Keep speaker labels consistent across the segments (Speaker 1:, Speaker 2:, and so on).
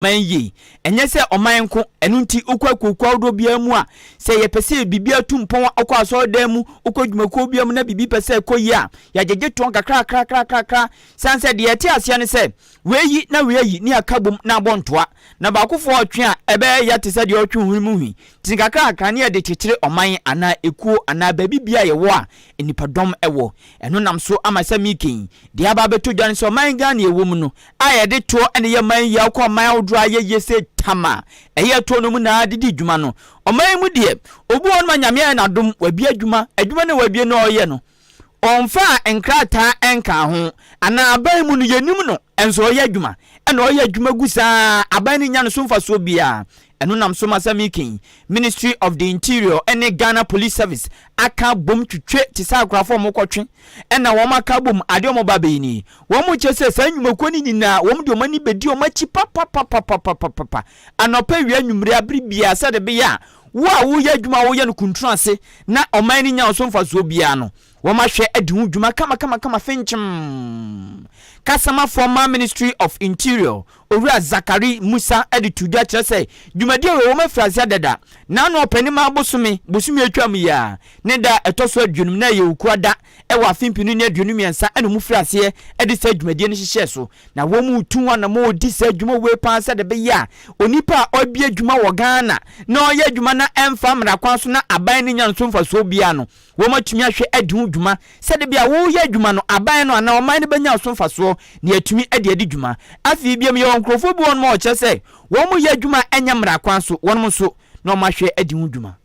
Speaker 1: man yie. Ɛnyɛ sɛ ɔman nko, ɛno nti wokɔ akuokuo ahodoɔ biara mu a, sɛ yɛpɛ sɛ biribi atu mpɔn a, wokɔ asɔredan mu, wokɔ dwumakuo biara mu na biribi pɛ sɛ ɛkɔ yie a, yɛagyegye toɔ nkakrakrakrakra, sane sɛ deɛ yɛte aseɛ ne sɛ, wei ayi na wei ayi na yɛaka bom na abɔ ntoa. Na baakofoɔ ɔretwe a, ɛbɛyɛ ya te sɛ deɛ ɔretwe hwene mu hwi, nti nkakrakra na yɛde kyekyere ɔman anaa ekuo anaa baabi biara a yɛwɔ a nnipadɔm wɔ. Ɛno nam so ama sɛ mekɛn, deɛ aba abɛtɔ dwa ne sɛ ɔman Ghana a yɛwɔ mu no, a yɛde toɔ ne yɛ man yaw kɔ aman ahodoɔ a ayɛ yie sɛ tam a ɛyɛ toɔ no mu na de di dwuma no. Ɔman yi mu deɛ, obi wɔ hɔ nom a Nyame ayɛ no adom, wabie adwuma, adwuma no a wabie no ɔreyɛ no, ɔmfaa nkrataa nkaa ho, anaa aban mu no yɛnnim no, nso ɔreyɛ adwuma, ɛna ɔreyɛ adwuma gu saa ara, aban no nnya no so mfasoɔ biara, Ɛno nam so ma sɛ meke yi, Ministry of the Interior ne Ghana Police Service aka abom twetwe te sɛ akorafo a wɔkɔtwe na wɔaka abom ade a wɔba abɛyɛ ni. Wɔkyerɛ sɛ saa nnwumakuo no nyinaa wɔde wɔn ani bɛdi wɔn akyi papapapapapapa, anɔpa, awia, anwummere, abere biara sɛdeɛ ɛbɛyɛ a wo a woyɛ adwuma a woyɛ no kuntunu ase na ɔman no nya wo so mfasoɔ biara no, wɔahwɛ adi ho dwuma kamakamakama. Finchim Kasamafoɔ ma Ministry of Interior Owura Zakari Musa de too dwa kyerɛ sɛ dwumadi a wɔwom afiri aseɛ dada, na ano ɔpɛ ne maa bosome, bosome a ɛtwaam yi ara, ne da a ɛtɔ so aduonum na ɛyɛ Owukuaa da wɔ afe mpenu ne aduonu mmiɛnsa na wɔfirii aseɛ de saa dwumadie no hyehyɛɛ so. Na wɔretu wɔn a wɔredi saa dwuma wei pa ara sɛdeɛ ɛbɛyɛ a onipa a ɔrebie adwuma wɔ Ghana na ɔreyɛ adwuma na ɛmfa mmara kwan so na aban no nnya nso mfasoɔ biara no, Wɔatumi ahwɛ adi ho dwuma sɛdeɛ ebia woreyɛ adwuma no, aban no anaa ɔman no bɛnya so mfasoɔ na yɛatumi de adi dwuma. Afei biom, yɛwɔ nkorɔfoɔ bi wɔ hɔnom a wɔkyerɛ sɛ wɔyɛ adwuma a ɛnyɛ mmara kwan so, wɔnom nso na wɔahwɛ adi ho dwuma.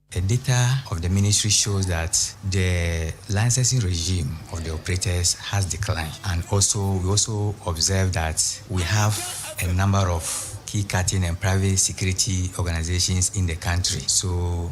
Speaker 1: The
Speaker 2: data of the ministry shows that the licensing regime of the operators has declined and also we also observe that we have a number of key cutting and private security organisations in the country so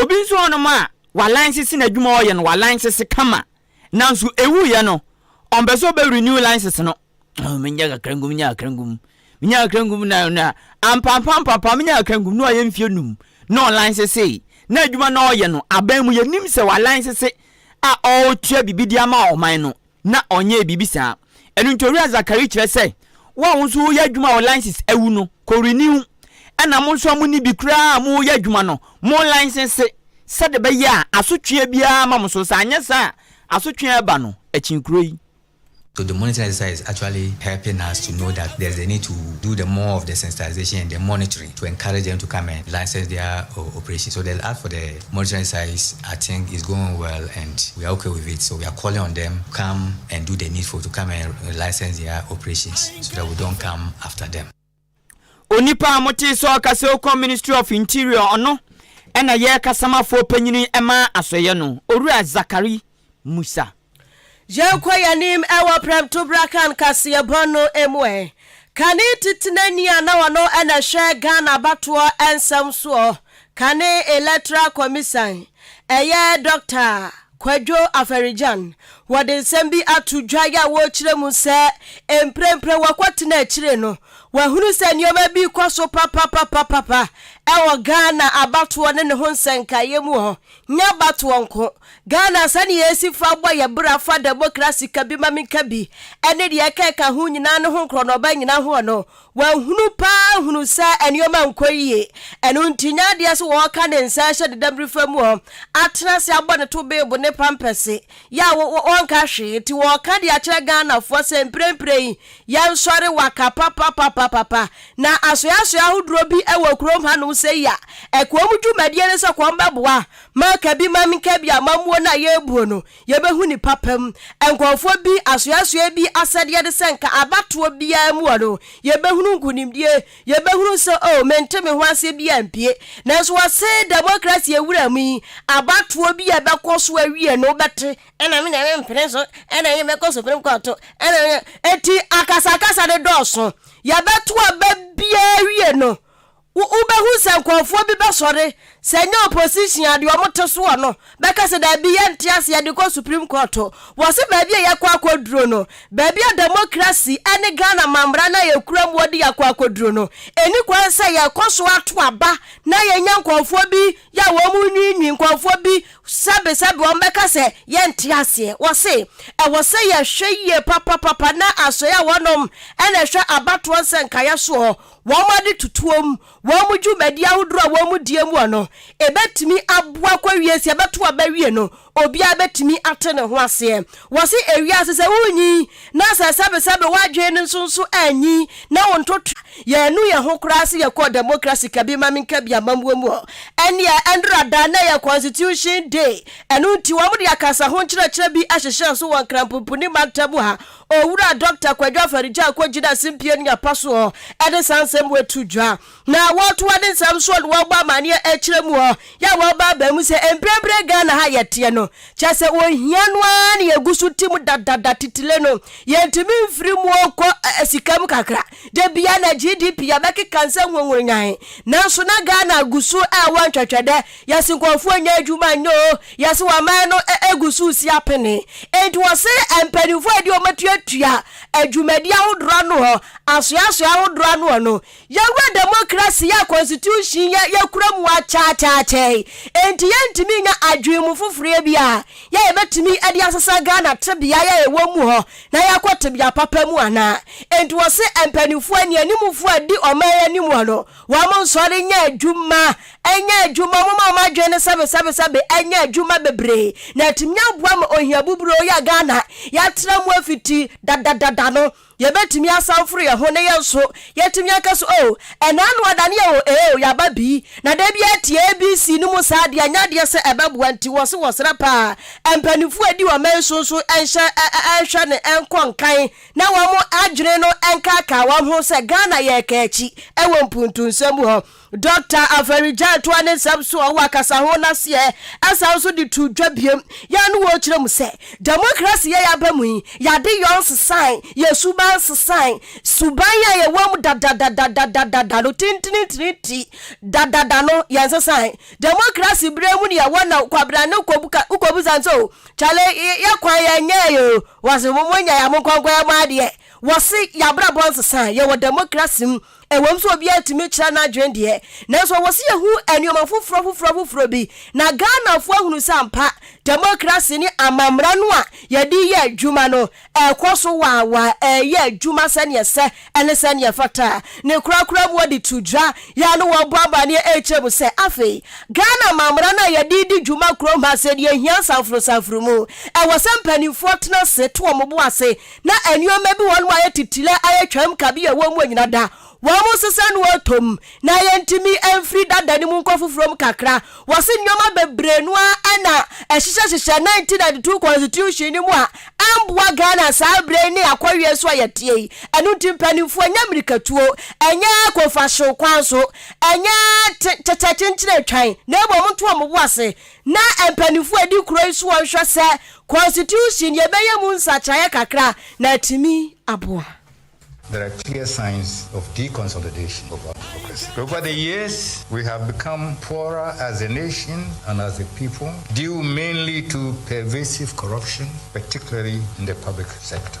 Speaker 1: Obi nso wɔ hɔnom a, walan sese n'adwuma a ɔyɛ no, walan sese kama. Nanso ewuiɛ no, ɔmpɛ sɛ ɔbɛ renew license no. Oh, menya kakra ngum, menya kakra ngum, menya kakra ngum na na ampampa ampampa menya kakra ngum na ɔyɛ mfie num na ɔlan sese na adwuma na ɔyɛ no aban mu yɛnim sɛ walan sese a ɔretua biribi de ama ɔman no. Na ɔnyɛɛ biribi saa. Ɛno nti Owura Zachary kyerɛ sɛ, Wo a wo nso woreyɛ adwuma a Olynsys awu no, kɔ renew, ɛna mo nso a monni bi koraa a moreyɛ adwuma no, mo linsese, sɛdeɛ ɛbɛyɛ a asotweɛ biara remma mo so, sɛ anyɛ saa a, asotweɛ a ɛreba no, akyinkuro yi. So the monitoring
Speaker 2: exercise is actually helping us to know that there's a need to do the more of the sensitization and the monitoring to encourage them to come and license their operation. So the ask for the. Monitoring size I think is going well and we are okay with it so we are calling on them come and do the needful to come and license their operations so that we don't come after them. Onipa
Speaker 1: a motee sɛ ɔka sɛ ɔkɔ Ministry of Interior ɔno na yɛ kasamafo panyini ma asɔeɛ no, Owura Zakari Musa. Yɛnkɔ
Speaker 3: yɛn anim wɔ Prɛmtobra kan kaseɛbɔ no mu ɛ. Kane Titenani a na ɔno na ɛhwɛ Ghana abatoɔ nsɛm soɔ, Kane Electoral Commisan, ɛyɛ Dɔkta Kwadwo Afari-Gyan, wɔde nsɛm bi ato dwa yɛ a wɔrekyerɛ mu sɛ mprempren wɔkɔ tena akyire no, wɔahunu sɛ nneɛma bi rekɔ so papapapapapa wɔ Ghana abatoɔ ne ne ho nsɛnkaeɛ mu hɔ. Nyɛ abatoɔ nko. Ghana sɛdeɛ yɛsi fa bɔ yɛn bra fa dɛmokrasi ka bi ma me nka bi ɛne deɛ ɛka ɛka ho nyinaa no ho nkorɔnɔba nyina hoɔ no wɔahunu paa hunu sɛ nneɛma nkɔ yie ɛno nti nyɛ adeɛ sɛ wɔɔka ne nsa ɛhyɛ ne damirifa mu ɔ atena ase abɔ ne to beebo ne pampɛse yɛ a wɔnka hwee nti wɔɔka de akyerɛ Ghanafoɔ sɛ mprɛmprɛ yi Yɛnsɔre waka papapapapapa. Na asoɛasoɛ ahodoɔ bi wɔ kurom hanom sei a, ɛkoa mu dwumadie ne sɛ kɔmbɛboa ma kabi ma nkabi a mamuo no a yɛbuo no yɛbɛhu ne papa mu. Nkɔɔfoɔ bi asoɛasoɛ bi asɛdeɛ ne sɛ nka abatoɔ biara mu wɔ no yɛbɛhunu nkunimdie, yɛbɛhunu sɛ oh mente me ho aseɛ biara mpue. Nanso wɔse democracy wura mu yi abatoɔ bi a ɛbɛkɔ so awie no wobɛte Ɛna me nyame mpene so ɛna ɛyɛ mɛkɔ supreme court ɛna ɛyɛ eti akasakasa ne dɔɔso yɛbɛto aba biara wie no wobɛhu sɛ nkurɔfoɔ bi bɛsɔre sɛ nyɛ opposition a deɛ wɔn te soɔ no bɛka sɛ daabi yɛnte ase yɛde kɔ supreme court wɔ se baabi a yɛkɔ akɔduro no baabi a democracy ɛne Ghana mammara no a yɛkura mu wɔde yɛakɔ akɔduro no ɛni kwan sɛ yɛkɔ so ato aba na yɛnya nkurɔfoɔ bi yɛ wɔn nwiinwii nkurɔfoɔ bi Sɛbesɛbe wɔbɛka sɛ yɛnte aseɛ. Wɔse, Ɛwɔ sɛ yɛhwɛ yie papapapa na asoɛe a wɔnom na ɛhwɛ abatoɔ nsɛnkaeɛ soɔ, wɔn ade tutuo mu, wɔn dwumadie ahodoɔ a wɔn die muɔ no, ɛbɛtumi aboa kɔwie sɛ yɛbɛto aba wie no, obiara bɛtumi ate ne ho aseɛ. Wɔse, Ewiase sɛ wonyin na sɛ sɛbesɛbe w'adwene no nso nso anyin na wo ntotoa yɛannu yɛn ho koraa sɛ yɛkɔɔ Demokrasi Kabea-ma-menka-bi amammuo mu hɔ. Ɛnneɛ, ɛnnora da na ɛyɛ Constitution Day, ɛno nti wɔde akasa ho nkyerɛkyerɛ bi ahyehyɛ so wɔ Nkranpumpuni mantam mu ha. Owura Dɔkta Kwadwo Afari-Gyarko gyinaa Simpie Nniapa soɔ de saa nsɛm wei too dwa. Na wɔtoa ne nsɛm soɔ na wɔbɔ amaneɛ akyerɛ mu hɔ yɛ a wɔba aba mu sɛ mprempren Ghana ha a yɛteɛ no kyerɛ sɛ ohia no ara na yɛgu so te mu dadada titire no yɛntumi mfiri mu nkɔ sika mu kakra da bia na GDP yɛbɛkeka nsɛ nwonwonyan nanso na Ghana gu so ɛwɔ ntwɛtwɛdɛ yɛse nkurɔfoɔ nyɛ adwuma nyɛ o yɛse waman no egu so si apene enti wɔse mpanimfoɔ a ɛde wɔn atuatua adwumadi ahodoɔ ano hɔ asoɛasoɛ ahodoɔ ano hɔ no Yɛwura demokrasi yi a konstitusyin yi a yɛkura mu akyɛakyɛakyɛ yi, enti yɛntumi nnya adwene mu foforoyɛ bi a yɛ a yɛbɛtumi de asesa Ghana tebea yi a yɛwɔ mu hɔ na yɛakɔ tebea papa mu anaa? Enti wɔse mpaninfoɔ anianimfoɔ a ɛdi ɔman yi anim hɔ no, wɔn nsɔre nyɛ adwuma, nyɛ adwuma, wɔn ma wɔn adwene no sɛbesɛbesɛbe nyɛ adwuma bebree na atumi aboa ma ohia buburoo yi a Ghana yɛatra mu afiti dadadada no, Yɛbɛtumi asan foro yɛn ho ne yɛn so yɛatumi aka so oh ɛnɛ ano adane yɛ oh ee oh yɛaba bi na da biara tie ABC no mu saa adeɛ nyɛ adeɛ sɛ ɛbɛboa nti wɔ se wɔsrɛ paa mpaninfoɔ a ɛdi ɔman so nso nhyɛ nhwɛ ne nkɔ nkan na wɔn adwene no nkaakaawɔn ho sɛ Ghana yɛreka akyi wɔ mpuntunsɛm mu hɔ Dɔkta Afari-Gyan toa ne nsɛm so a ɔwɔ akasaho no aseɛ ɛsan nso de too dwa biom yɛ ne wɔn kyerɛ mu sɛ demokrasi yɛ yɛaba mu yi yɛade yɔ nsesae yɛ suban nsesae suban yɛ a yɛwɔ mu dadadadadadada no tintinintini nti dadada no yɛ nsesae demokrasi berɛ mu ne yɛwɔ na kwabena ne kobu san sɛ o kyale yɛ kwan yɛ nyɛ yɛ o wɔse mo nyɛ yɛ mo nkɔnkɔ yɛ mo adeɛ wɔse yɛabrabɔ nsesae yɛwɔ demokrasi mu Ɛwom sɛ obiara tumi kyerɛ n'adwene deɛ, nanso ɛwɔ sɛ yɛhu nneɛma foforɔ foforɔ foforɔ bi, na Ghanafoɔ ahunu sɛ ampa, demokrase ne amammara no a yɛde reyɛ adwuma no, ɛrekɔ so waawaa, ɛreyɛ adwuma sɛdeɛ ɛsɛ ne sɛdeɛ ɛfata. Ne korakora mu wɔde to dwa, yɛn ano wɔrebɔ amanneɛ rekyerɛ mu sɛ afei Ghana amammara no a yɛde redi dwuma kurom ha sɛ deɛ ɛhia nsanforosanforo mu, ɛwɔ sɛ mpanimfoɔ tena ase to wɔn bo ase, na nnoɔma bi wɔnom ayɛ titire ayɛ twam kabea wɔ mu anyina da wɔnom nsesa no ɔtɔm na yɛntumi mfiri dada no mu nkɔ foforɔ mu kakra wɔse nnoɔma bebree no ara na ɛhyehyɛ hyehyɛ 1992 constitution no mu a ɛmboa Ghana saa berɛ yi ne akɔweɛ so a yɛteɛ yi ɛno nti mpanimfoɔ ɛnyɛ mirikatuo ɛnyɛ kofahyew kwan so ɛnyɛ te kyɛkyɛkyenkyene twan na mmom nto wɔn bo ase Ná mpanyimfo a edi kurow yi so nhwɛ sɛ Constitution yɛbɛyɛ mu nsakyeraeɛ kakra na atumi aboa. There
Speaker 4: are clear signs of deconsolidation of our democracy. Over the years, we have become poorer as a nation and as a people due mainly to pervasive corruption, particularly in the public sector.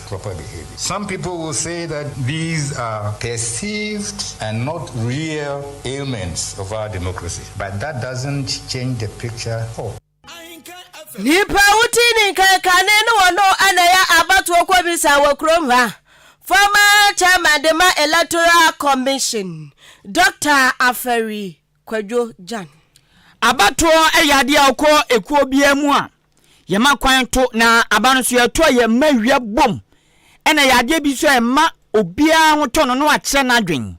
Speaker 4: proper behavior. Some people will say that these are perceived and not real ailments of our democracy but that doesn't change the picture for.
Speaker 3: Nnipa a wotii ne nkan kane ne wɔn no na ɛyɛ abatoɔ kɔmisa wɔ kurom ha. Former chairman de ma electoral commission, Doctor Afari Kwadwo Jan. Abatoɔ
Speaker 1: yɛ adeɛ a wokɔ ekuo biara mu a yɛma kwan to na aba no so yɛto a yɛma awia bom ɛna yɛ adeɛ bi so a ɛma obiara ho tɔ no no akyerɛ n'adwen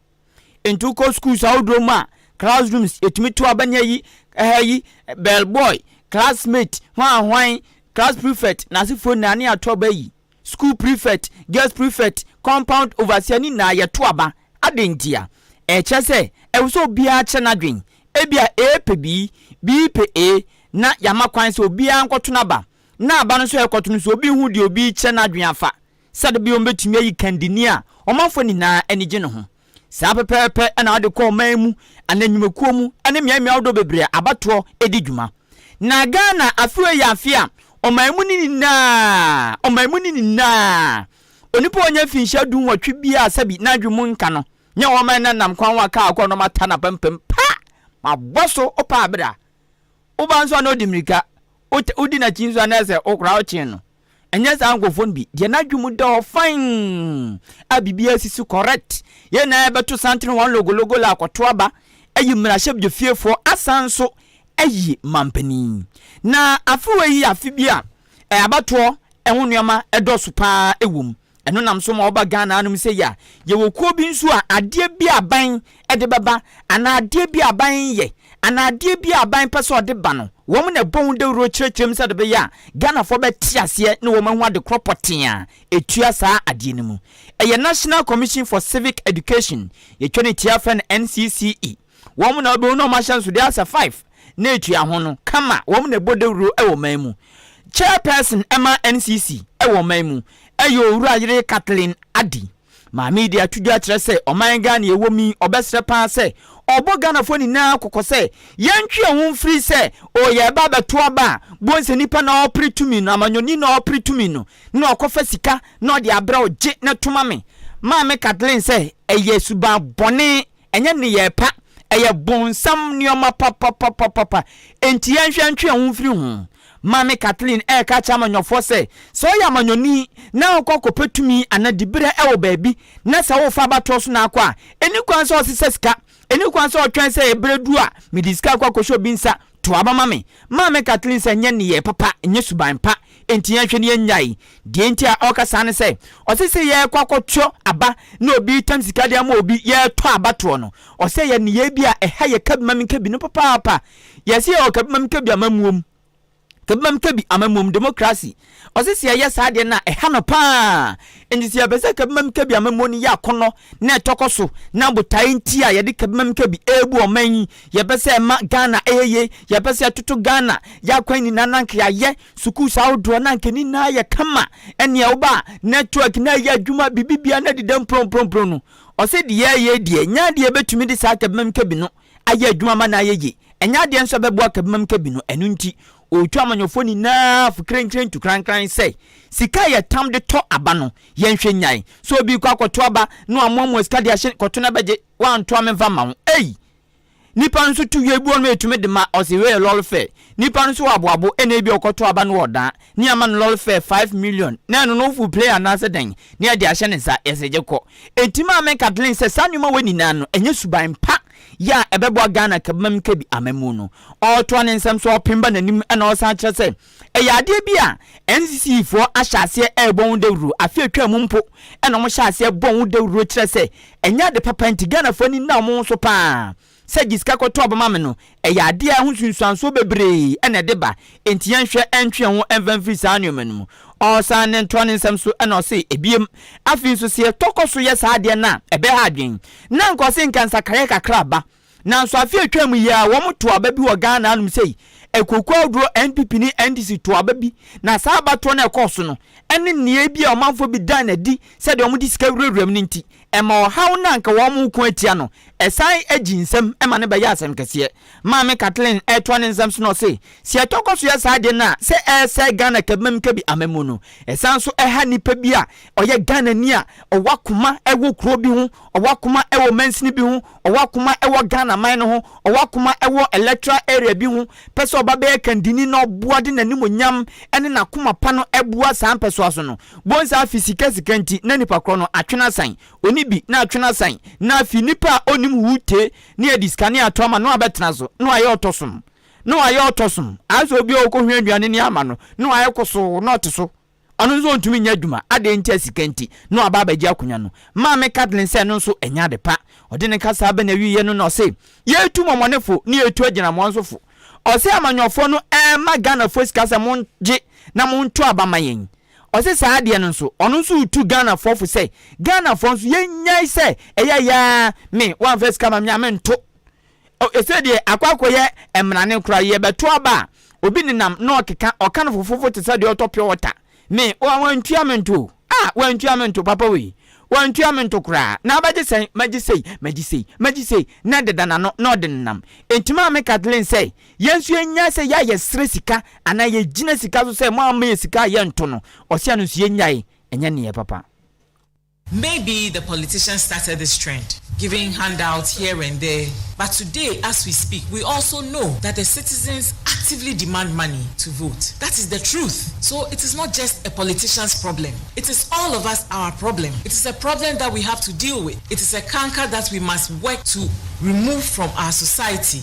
Speaker 1: nti wokɔ schools ahodoɔ mu a classrooms yɛtumi to aba nya yi ɛha yi bell boy classmate hwan hwan class prefect n'asefoɔ nyinaa ne ato aba yi School prefect, guest prefect, compound overseer ne nyinaa yɛto aba. Adɛn ntia? Ɛkyerɛ sɛ ɛwɔ sɛ obiara kyerɛ n'adwene. Ebia A pɛ B, B pɛ A, na yɛama kwan sɛ obiara nkɔto n'aba. Na aba no nso a ɛrekɔto no nso obi nhu deɛ obi rekyerɛ n'adwene afa. Sɛdeɛ ɛbɛyɛ wɔbɛtumi ayi kandini a ɔmanfoɔ nyinaa ani gye ne ho. Saa pɛpɛɛpɛ na wɔde kɔ ɔman mu anaa nnwumakuo mu ne mmeammea ahodoɔ bebree a abatoɔ di dwuma. Na Ghana afe wei yɛ afe a ɔman mu no nyinaa, ɔman mu no nyinaa, onipa a ɔnyɛ mfinhyia du nwɔtwe biara a sɛbi n'adwene mu nka no nyɛ wɔn man na nam kwan ho aka akɔ na wɔata no apampam pa ma abɔ so ɔpɛ abere a woba nso a na ɔdi mmirika, wodi n'akyi nso a na ɛsɛ sɛ wokora wokyen no. Ɛnyɛ saa nkurɔfoɔ no bi deɛ n'adwene mu da hɔ fann a biribiara si so correct. Yɛn nyinaa yɛbɛto santene wɔn logologo la akɔto aba ayi mmarahyɛbadwafiefoɔ asan nso ayi mampanin. Na afe wei yɛ afe bi a abatoɔ ho nneɛma dɔɔso pa ara wɔ mu. Ɛno nam so ma woba Ghana hanom sei a, yɛwɔ kuo bi nso a adeɛ bi a aban de bɛba anaa adeɛ bi a aban reyɛ anaa adeɛ bi a aban pɛ sɛ ɔde ba no, wɔn na ɛbɔ ho dawuro kyerɛkyerɛ mu sɛdeɛ ɛbɛyɛ a Ghanafoɔ bɛte aseɛ na wɔahu ade korɔ pɔtee a ɛtua saa adeɛ no mu. Ɛyɛ National Commission for Civic Education, yɛtwa ne tiaa frɛ no NCCE. Wɔn na wɔbɛhu na wɔahyɛ nsodeɛ asɛ five na ɛtua ho no kama, wɔn na ɛbɔ dawuro wɔ ɔman mu. Chairperson ma NCC wɔ ɔman mu yɛ Owura Yere Kathleen Addy. Maame yi de ato dwa kyerɛ sɛ ɔman Ghana a ɛwɔ mu yi, ɔbɛsrɛ pa ara sɛ ɔbɔ Ghanafoɔ nyinaa kɔkɔ sɛ yɛntwe yɛn ho mfiri sɛ o yɛreba abɛto aba a bohu sɛ nipa na ɔrepere tumi no, amanyɔni na ɔrepere tumi no na ɔkɔfa sika na ɔde abrɛ wo, gye na to ma me. Maame Kathleen sɛ ɛyɛ suban bɔne. Ɛnyɛ nneyɛɛ pa, ɛyɛ bonsam nneɛma papapapapa. Enti yɛnhwɛ ntwe yɛn ho mfiri ho. Maame Kathleen reka akyerɛ amanyɔfoɔ sɛ, Sɛ woyɛ amanyɔni na wokɔ akɔpɛ tumi anaa diberɛ wɔ baabi, na sɛ worefa abatoɔ so na akɔ a, ɛnni kwan sɛ wosesa sika. Ɛnni kwan sɛ wotwɛn sɛ ɛberɛ duru a mede sika akɔ akɔhyɛ obi nsa To aba ma me. Maame Kathleen sɛ ɛnyɛ nneyɛe papa, ɛnyɛ suban pa. Enti yɛnhwɛ na yɛnnyae. Deɛ enti a ɔreka saa ne sɛ, ɔse sɛ yɛrekɔ akɔtɔ aba na obi retam sika de ama obi, yɛretɔ abatoɔ no. Ɔse ɛyɛ nneyɛe bi a ɛha yɛ kabimamikabi no papaapa. Yɛse yɛwɔ kabimamikabi amammuom, kabimamikabi amammuom demokrasi. Ɔse sɛ yɛyɛ saa deɛ no a ɛha no paa. Enti sɛ yɛpɛ sɛ kabima mu kabi amammuo no yɛ akɔnnɔ na ɛtɔkɔ so na botaeɛ nti a yɛde kabima mu kabi rebu ɔman yi, yɛpɛ sɛ ɛma Ghana yɛ yie, yɛpɛ sɛ ɛtoto Ghana yɛ akwan nyinaa na anka yɛayɛ sukuus ahodoɔ na anka ne nyinaa ayɛ kama ɛnea woba a network no ayɛ adwuma biribibiara no adeda mprɔmprɔmprɔm no Ɔse deɛ yɛreyɛ yi deɛ ɛnyɛ adeɛ yɛbɛtumi de saa kabima mu kabi no ayɛ adwuma ama no ayɛ yie, ɛnyɛ adeɛ nso a ɛbɛboa kabima mu kabi no, ɛno nti Ɔretu amanyɔfoɔ nyinaa fo krenkren tu krankran sɛ, Sika a yɛtam de tɔ aba no, yɛnhwɛ nnyae. Sɛ obi rekɔ akɔto aba na wamoamoa sika de ahyɛ kɔto na bɛgye, woanto a memfa mma wo. Ei! Nnipa no nso tu yɛ, ebi wɔ hɔ no a ɛtumi de ma ɔse wei yɛ lɔre fare. Nnipa no nso wɔ aboabo, ɛnna ebia ɔkɔto aba na ɔdaa ne ama no lɔre fare five million na ɛno no woforo plane anaasɛ dɛn na yɛde ahyɛ ne nsa, yɛse gye kɔ. Enti maa me Kathleen sɛ saa nneɛma wei nyinaa no, ɛnyɛ suban pa. yɛ a ɛbɛboa Ghana kabamim kabi amammuo no. Ɔretoa ne nsɛm so ɔpem ba n'anim na ɔsan kyerɛ sɛ ɛyɛ adeɛ bi a NCC foɔ ahyɛ aseɛ ɛrebɔ ho dawuro, afe atwaa mu mpo na wɔhyɛɛ aseɛ bɔɔ ho dawuro kyerɛ sɛ ɛnyɛ ade papa nti Ghanafoɔ ani nna wɔn ho so pa ara. Sɛ gye sika kɔtɔ bɛma me no, ɛyɛ adeɛ a ɛho nsunsuansoɔ bebree na ɛde ba nti yɛnhwɛ ntwe yɛn ho mfa mfiri saa nneɛma no mu. Ɔresan ne ntoa ne nsɛm so na ɔse, Ebiem, afei nso sɛ yɛtɔ kɔ so yɛ saa adeɛ no a ɛbɛha adwene, Na nka ɔse nka nsakraeɛ kakra aba, nanso afe a ɛtwaam yi ara wɔn too aba bi wɔ Ghana hanom sei, akuokuo ahodoɔ NPP ne NDC too aba bi, na saa abatoɔ no a ɛkɔɔ so no ne nneyɛe bi a ɔmanfoɔ bi daa no adi sɛ deɛ wɔn de sika wurawura mu no nti, ɛma ɔhaw no a nka wɔn reko atia no, ɛsan gye nsam ma no bɛyɛ asɛm kɛseɛ. Maame Kathleen retoa ne nsɛm so na ɔse, Sɛ yɛtɔ kɔ so yɛ saa ade no a, sɛ ɛresɛe Ghana kɛbema mu kɛbi amammu no, ɛsan nso ɛha nipa bi a ɔyɛ Ghanani a ɔwɔ akoma wɔ kuro bi ho, ɔwɔ akoma wɔ mansini bi ho, ɔwɔ akoma wɔ Ghana man no ho, ɔwɔ akoma wɔ electoral area bi ho, pɛ sɛ ɔba bɛyɛ kandini na ɔboa de n'animuonyam ne n'akoma pa no boa saa mpɛsoa so no. Bonsa afi sika sika nti na nipa korɔ no atwene asan, ɔni bi na atwene asan, na afi nipa a ɔnnim hoo tee ne adi sika ne ato ama no abɛtena so ne wayɛ ɔtɔsom ne wayɛ ɔtɔsom asɛ obi a ɔkɔhwɛ aduane ne ama no ne wayɛ kosoo na ɔte so ɔno nso ɔntumi nyɛ adwuma adɛn nti a sika nti na waba abɛgye akonya no maame Kathleen sɛ ɛno nso ɛnyɛ ade pa ɔde ne kasaa bɛ na awieɛ no na ɔse yɛtu mɔmɔnefo ne yɛtu agyinamoa nso fo ɔse amanyɔfoɔ no ɛma Ghanafoɔ sika sɛ mongye na monto aba ma yɛn Ɔse saa adeɛ no nso ɔno nso retu Ghanafoɔ fo sɛ Ghanafoɔ nso yɛnyae sɛ ɛyɛ yaa me woamfa sika ma me a mento. Oh ɛsei deɛ akɔ akɔyɛ mmrane koraa yɛbɛto aba a obi nenam na ɔkeka ɔka no fofofo te sɛ deɛ ɔtɔ pure water me oh wantua me nto o ah wantua me nto papa wei wantua me nto koraa na abɛgye sɛn magye sei magye sei magye sei na deda n'ano na ɔde nenam enti maame Kathleen sɛ Yɛn nso yɛnyae sɛ yɛ a yɛsrɛ sika anaa yɛgyina sika so sɛ moamma yɛn sika a yɛnto no ɔsea no nso yɛnyae, ɛnyɛ neyɛ papa. Maybe
Speaker 5: the politicians started this trend giving handouts here and there but today as we speak we also know that the citizens actively demand money to vote that is the truth so it is not just a politicians problem it is all of us our problem it is a problem that we have to deal with it is a canker that we must work to remove from our society.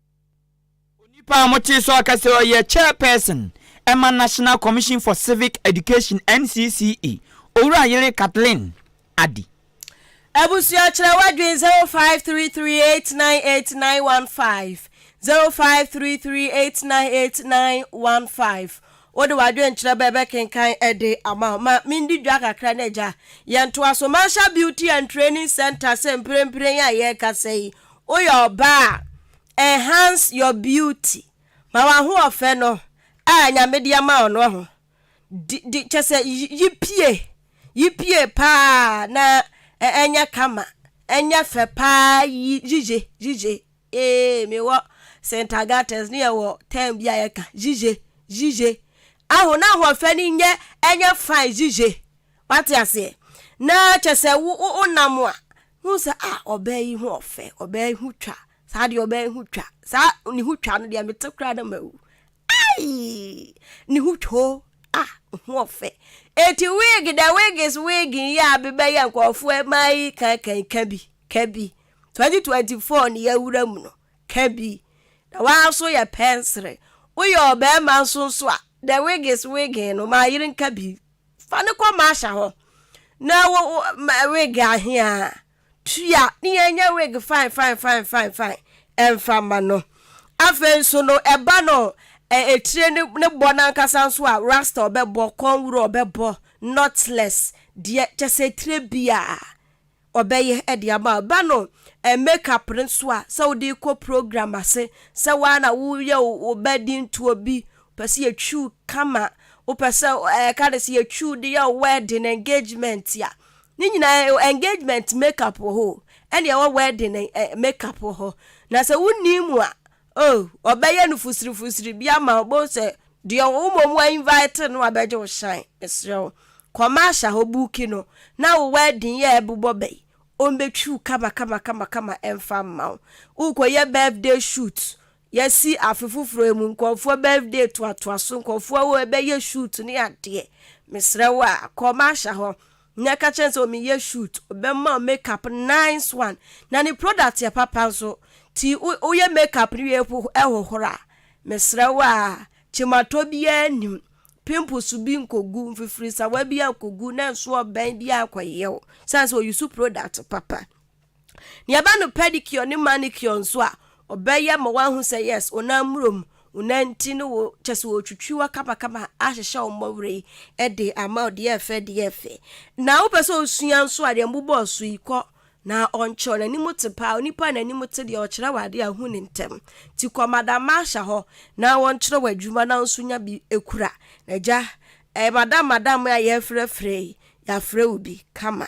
Speaker 1: Onipa a motee so aka sɛ ɔyɛ Chairperson ma National Commission for Civic Education, NCCE, Owura Yere Kathleen Addy. Abusua kyerɛ w'adwene zero five three three eight nine
Speaker 3: eight nine one five zero five three three eight nine eight nine one five Wode w'adwene kyerɛ bɛ bɛkenkan de ama wo. Ma mendi dwa kakra na agya yɛntoa so. Marsha Beauty and Training Centre sɛ mprempren a yɛrekasa yi Woyɛ ɔbaa a, enhance your beauty, ma w'ahoɔfɛ no a Nyame de ama wo no ho, di, di, kyerɛ sɛ yi pie, yi pie paa na ɛnyɛ kama, ɛnyɛ fɛ paa yiye, yiye, ee, me wɔ St. Agates ne yɛ wɔ term bi a yɛ ka, yiye, yiye, aho, na ahoɔfɛ no nyɛ, ɛnyɛ fine yiye, wate aseɛ, na kyerɛ sɛ wo, wo, wo nam a, Hu sɛ, Ah, ɔbaa yi ho ɔfɛ, ɔbaa yi ho twa, saa deɛ ɔbaa yi ho twa, saa ne ho twa no deɛ mete koraa na mawu. Ai! Ne ho twa o, ah, ho ɔfɛ. Eti wig dɛ wigs wig yi a bebɛyɛ nkurɔfoɔ ɛma yi kankan ka bi, ka bi. 2024 ne yɛawura mu no, ka bi. Na waa nso yɛ pɛnsere. Woyɛ ɔbarima nso nso a, dɛ wigs wig no ma yere nka bi. Fa no kɔ Marsha hɔ na wo wig ahea tua ne yɛnyɛ wig fine fine fine fine fine ɛmfa ma no afei nso no ɛba no ɛtire ne ne bɔ n'ankasa nso a rasta ɔbɛbɔ kɔnwuro ɔbɛbɔ knotless deɛ kyɛ sɛ tire biara Ɔbɛyɛ de ama wo. Ba no eh, make up no nso a, sɛ wode rekɔ program ase, sɛ wo ara na woyɛ wo wo ba din to obi, wopɛ sɛ yɛtwi wo kama, wopɛ sɛ eh, yɛka no sɛ yɛtwi wo de yɛ wo wedding, engagement a, ne nyinaa eh, engagement make up wɔ hɔ o, ɛne ɛwɔ wedding eh, make up wɔ hɔ. Na sɛ wonni mu a, Oh, ɔbɛyɛ no fusirifusiri bi ama wo, bohu sɛ deɛ wo mmom wa invite no abɛgye wo shine, mesrɛ wo, kɔma ahyɛ hɔ buuki no, na wo wedding yɛ ɛbobɔ bɛyi, ɔmbɛtwi wo kamakamakama ɛmfa mma wo, wokɔyɛ birthday shoot, yɛasi afe foforɔ yi mu, nkorɔfoɔ birthday toatoa so, nkorɔfoɔ ɛbɛyɛ shoot ne adeɛ, mesrɛ wo a, kɔma ahyɛ hɔ, Na ɛka kyerɛ no sɛ ɔmeyɛ shoot ɔbɛma wo make up nice one na ne product yɛ papa nso nti woyɛ make up no wie ɛhohoro a mesrɛ wo a kyematɔ biara nnim pimples bi nkɔgu mfifirisawa biara nkɔgu na nso ɔbɛn biara nkɔyɛ wo sane sɛ ɔyi so product papa. Nea ɛba no pedicure ne manicure nso a, ɔbɛyɛ ma woahu sɛ yes, wo nan mmurom, wo nan nti ne wo, kyɛ sɛ ɔretwitwi wo akamakama, ahyehyɛ wo mmɔwere de ama wo deɛ ɛfɛ deɛ ɛfɛ. Na wopɛ sɛ ɔsua nso a, deɛ mbobɔɔ so yi, kɔ na ɔnkyerɛ wo. N'anim te paa, onipa a n'anim te deɛ ɔkyerɛ wo adeɛ a, hu no ntɛm. Nti kɔ Madam Marsha hɔ na ɔnkyerɛ wo adwuma na wo nso nya bi kura. Agya, ɛyɛ madam madam a yɛrefrɛfrɛ yi, yɛafrɛ wo bi kama.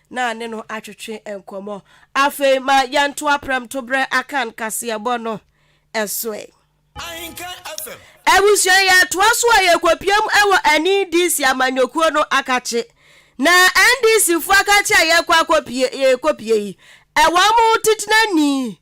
Speaker 3: na ne no atwetwe nkɔmmɔ. Afei ma yɛntoa prɛmtoberɛ Akan kaseɛbɔ no so ɛ. Ahenka
Speaker 6: FM. Abusua yɛtoa
Speaker 3: so a yɛkɔpiam wɔ NDC amanyɔkuo no akakye. Na NDC foɔ akakye a yɛkɔ akɔpie yɛkɔpie yi, wɔn titenani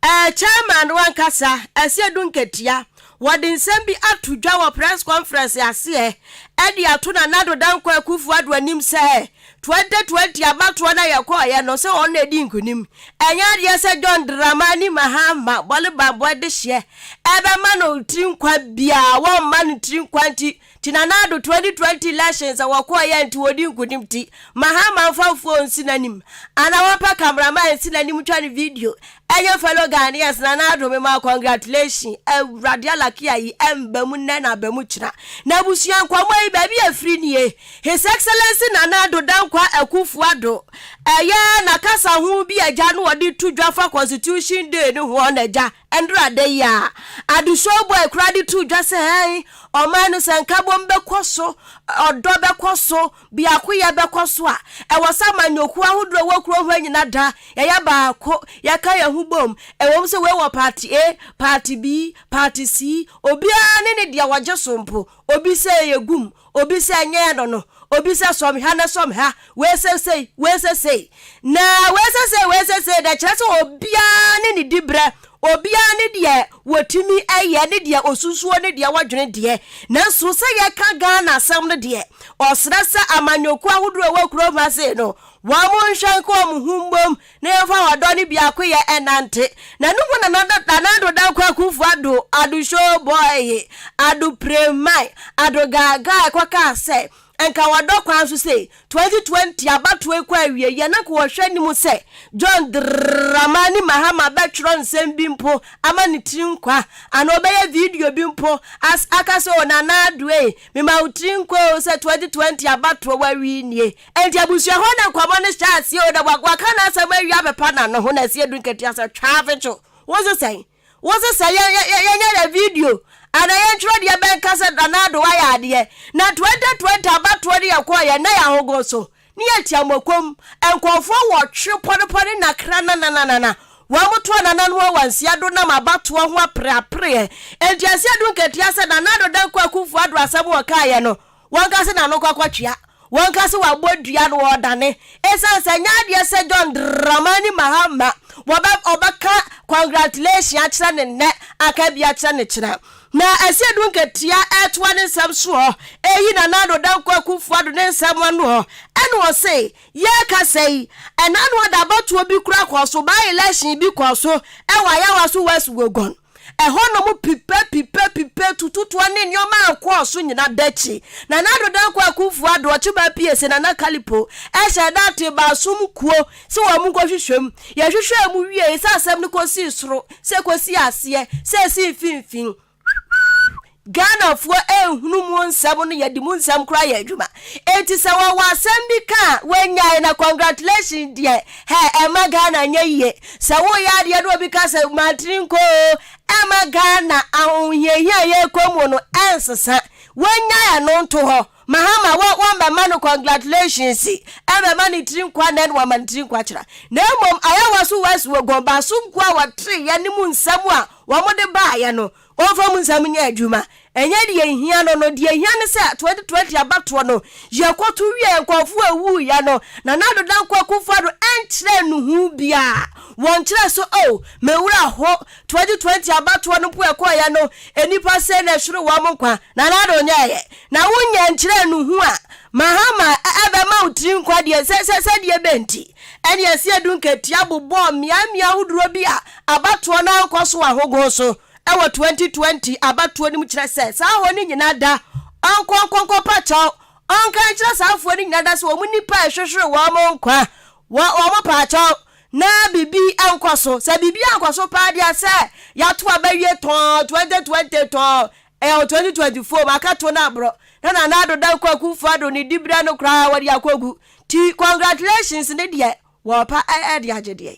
Speaker 3: Eh, Chairman no ankasa, ɛsɛ du nkatia. Wɔde nsɛm bi ato dwa wɔ press conference ase ɛ, ɛde ato Nana Addo Dankwa Akuffo Addo anim sɛ 2020 abatoɔ no a yɛkɔɔeɛ no, sɛ wɔn na ɛdii nkunim. Ɛnyɛ adeɛ sɛ John Dramani Mahama, Bɔlebanbɔ dehyeɛ, ɛbɛma no tiri nkwa biara, wɔmma no tiri nkwa nti, Nti Nana-Addo 2020 elections a wɔkɔɔ yɛ nti wɔdi nkunim nti Mahama mfa mfoɔ nsi n'anim anaa wɔmpɛ camera man nsi n'anim ntwa no video ɛnyɛ fellow Ghanaians Nana-Addo mema wo congratulation Awurade alake ayi ɛmba mu nnɛ na aba mu kyena N'abusua nkɔmmɔ yi baabi a ɛfiri nie His Excellency Nana-Addo Dankwa Akufo-Addo ɛyɛ n'akasa ho bi a agya no ɔde to dwa fa constitution day no ho ɔna agya Ɛnde ada yi ara, Adesua bɔ a ɛkura de too dwa sɛ ɛn, ɔman no sɛ nkabom bɛkɔ so, ɔdɔ bɛkɔ so, biakoyɛ bɛkɔ so a, ɛwɔ sɛ amanyɔkuo ahodoɔ a ɛwɔ kuro hɔ nyina da, yɛyɛ baako, yɛka yɛn ho bom, ɛwom sɛ wei wɔ party A, party B, party C, obiara ne ne deɛ ɔgye so mpo. Obi sɛ yɛ gum, obi sɛ nyɛ yɛ no no, obi sɛ sɔm ha na sɔm ha, wei sɛ sei, wei sɛ sei, na wei sɛ sei, wei sɛ sei, na ɛkyerɛ sɛ obiara ne ne diberɛ, obiara ne deɛ wɔtumi yɛ ne deɛ ɔsusuo ne deɛ wɔdwene deɛ. Nanso sɛ yɛka Ghana asɛm no deɛ, ɔsrɛ sɛ amanyɔkuo ahodoɔ a ɛwɔ kurom ha sei no, wɔnhwɛ nka wɔn ho mmom Na yɛmfa ɔdɔ ne biakoyɛ nnante. Na no mu na Nanado Dankwa Akuffo Addo, Addo Showboy, Addo Premae, Addo Gaagaa kɔ kaa sɛ, Nka wɔdɔ kwan so sei, 2020 abatoɔ rekɔ awieeɛ na nka wɔhwɛ anim sɛ John Dramani Mahama bɛtwerɛ nsɛm bi mpo ama ne tiri nkwa anaa ɔbɛyɛ video bi mpo as aka sɛ o Nanado ei, mema wo tiri nkwa o sɛ 2020 abatoɔ w'awie nie. Enti abusua hɔ na nkɔmmɔ no hyɛɛ aseɛ o, na waka n'asɛm awie apepa n'ano ho na Asiadu Nketewa sɛ, Twaavekyo, wo se sɛn? Wo se sɛ yɛnyɛ yɛ video anaa yɛntwerɛ deɛ bɛnka sɛ Nana Addo wayɛ adeɛ? Na Twenty Twenty abatoɔ no yɛkɔeɛ na yɛahogo so ne yɛtua mokom, nkurɔfoɔ nwɔtwe pɔnepɔne nakra nanananana wɔtoa Nana no wɔ Asiadu nam abatoɔ ho apereapereɛ. Enti Asiadu Nketewa sɛ, Nana Addo Dankwa Akuffo Addo asɛm ɔkaeɛ no, Wɔka sɛ n'ano kwakwa tua. Wɔka sɛ wabɔ dua na ɔredane. Esiane sɛ ɛnyɛ adeɛ sɛ John Dramani Mahama wɔbɛ ɔbɛka congratulation akyerɛ no nnɛ aka bi akyerɛ no kyena. Na ɛsɛ yɛdu nkatia ɛtoa ne nsɛm soɔ ɛyi Nana Addo Dankwa Akuffo Addo ne nsɛm anoɔ ɛna ɔse yɛrekasa yi ɛna no ɔde abatoɔ bi kora kɔɔ so, by-election bi kɔɔ so ɛwɔ Ayawaso West Wuogon. Ɛhɔ nom pipa, pipa, pipa, tututoa ne nneɛma a ɛkɔɔ so nyinaa da akyi. Nana Dodonko Akuffo Addo, Ɔkyeba Apiese, Nana Kalipo, hyɛɛ da tee baasom kuo sɛ wɔn nkɔhwehwɛ mu. Yɛhwehwɛɛ mu wiee sɛ asɛm no kɔsii soro, sɛ ɛkɔsii aseɛ, sɛ ɛsii mfimfini. Ghanafoɔ nhunu mu nsɛm no yɛde mu nsɛm koraa yɛ adwuma enti sɛ wɔwɔ asɛm bi ka a wɔnyae na congratulations deɛ hɛ ɛmma Ghana nyɛ yie sɛ woyɛ adeɛ na obi ka sɛ mantini nkɔ oo ɛmma Ghana ahohiahia a yɛrekɔ mu no ɛnsesa wɔnyae ɛno nto hɔ Mahama wɔ wɔmmɛma no congratulations ɛmmɛma ne tiri nkɔ anɛ na wɔama ne tiri nkɔ akyera na mmom ayɛ wɔ so wɔ asi wɔ gɔn baaso nko a wɔtere yɛ ne mu nsɛm a wɔde baeɛ no Wɔmfa mu nsɛm nyɛ adwuma. Ɛnyɛ deɛ ɛhia no no, deɛ ɛhia ne sɛ 2020 abatoɔ no, yɛkɔto wieɛ, nkurɔfoɔ a ɛwuiɛ no, Nana Addo Dankwa Akufo-Addo nkyerɛɛ no hu biara. Wɔnkyerɛɛ sɛ, Oh, me werɛ ho, 2020 abatoɔ no mpo a ɛkɔeɛ no, nnipa sei na ɛhweree wɔn nkwa. Nana Addo nyɛeɛ. Na wonyɛ nkyerɛɛ no hu a, Mahama bɛma wo tiri nkwa deɛ, sɛ, sɛ, sɛdeɛ ɛbɛn nti, ɛnneɛ ɛsɛ yɛde nkatia bobɔ mmeaemmeae ahodoɔ bi a Abatoɔ no ankɔ so ahogow so wɔ 2020 abatoɔ no mu kyerɛ sɛ saa ahɔ no nyinaa da ɔnkɔnkɔnkɔ pakyɛw ɔnka nkyerɛ saa afoɔ no nyinaa da sɛ wɔn nnipa a ɛhwehwere wɔn nkwa wɔ wɔn pakyɛw na biribi nkɔ so sɛ biribi ankɔ so paa deɛ sɛ yɛato aba wie tɔn 2020 tɔn ɛyɛ 2024 mu akato no aborɔ na Nana Addo Dankwa Akufo Addo ne diberɛ no koraa wɔde akɔgu ti congratulations ne deɛ wɔpa ɛde agye deɛ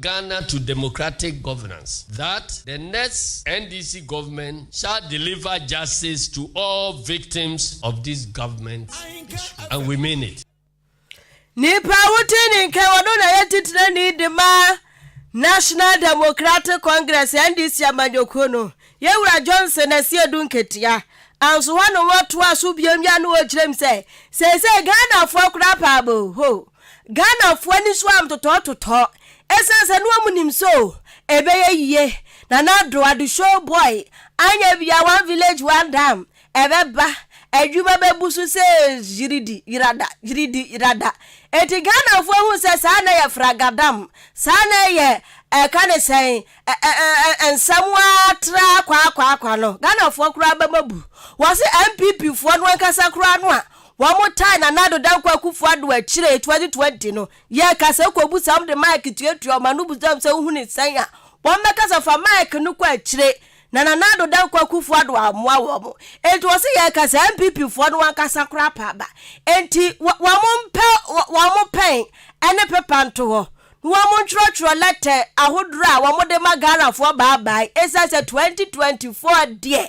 Speaker 6: Ghana to democratic governance that the next NDC government shall deliver justice to all victims of this government and we mean it. Nipa
Speaker 3: a wote ne nka ɔno na yɛ titenani de ma National Democratic Congress NDC amanyɔkuo no Yɛwura Johnson Asiedu Nketia anso hɔ na wɔtoa so biom yɛ no wɔ kyerɛm sɛ seesei Ghanafoɔ koraa pɛ aboo hoo Ghanafoɔ ani so a ntotɔɔ totɔɔ ɛsiane sɛ na wɔn nim sɛ oh ɛbɛyɛ yie Nana Addo Ado show boy anyɛ bia one village one dam ɛbɛba adwuma bɛbu so sɛ gyiridi gyirada gyiridi gyirada enti Ghanafoɔ hu sɛ saa na yɛ fragadam saa na yɛ ɛka ne sɛn nsɛm waa tra kwaakwaakwa no Ghanafoɔ koraa bɛma bu wɔse NPP foɔ no ankasa koraa no a Wɔtaa Nana Addo Dankwa Akufo Addo akyire, 2020 no, yɛɛ kasa ɛkɔbusa wɔn de mic tuatua wɔn ano busa wɔn sɛ wohu no sɛn a wɔbɛkasa fa mic no kɔ akyire na Nana Addo Dankwa Akufo Addo ammoa wɔn enti wɔse yɛɛ kasa NPP foɔ no ankasa koraa paa ba enti wɔn mpɛ wɔn pɛn ɛne pepa nto hɔ na wɔn ntwerɛtwerɛ lɛtɛ ahodorɔ a wɔn de ma Ghana foɔ bye bye ɛsiane sɛ 2024 deɛ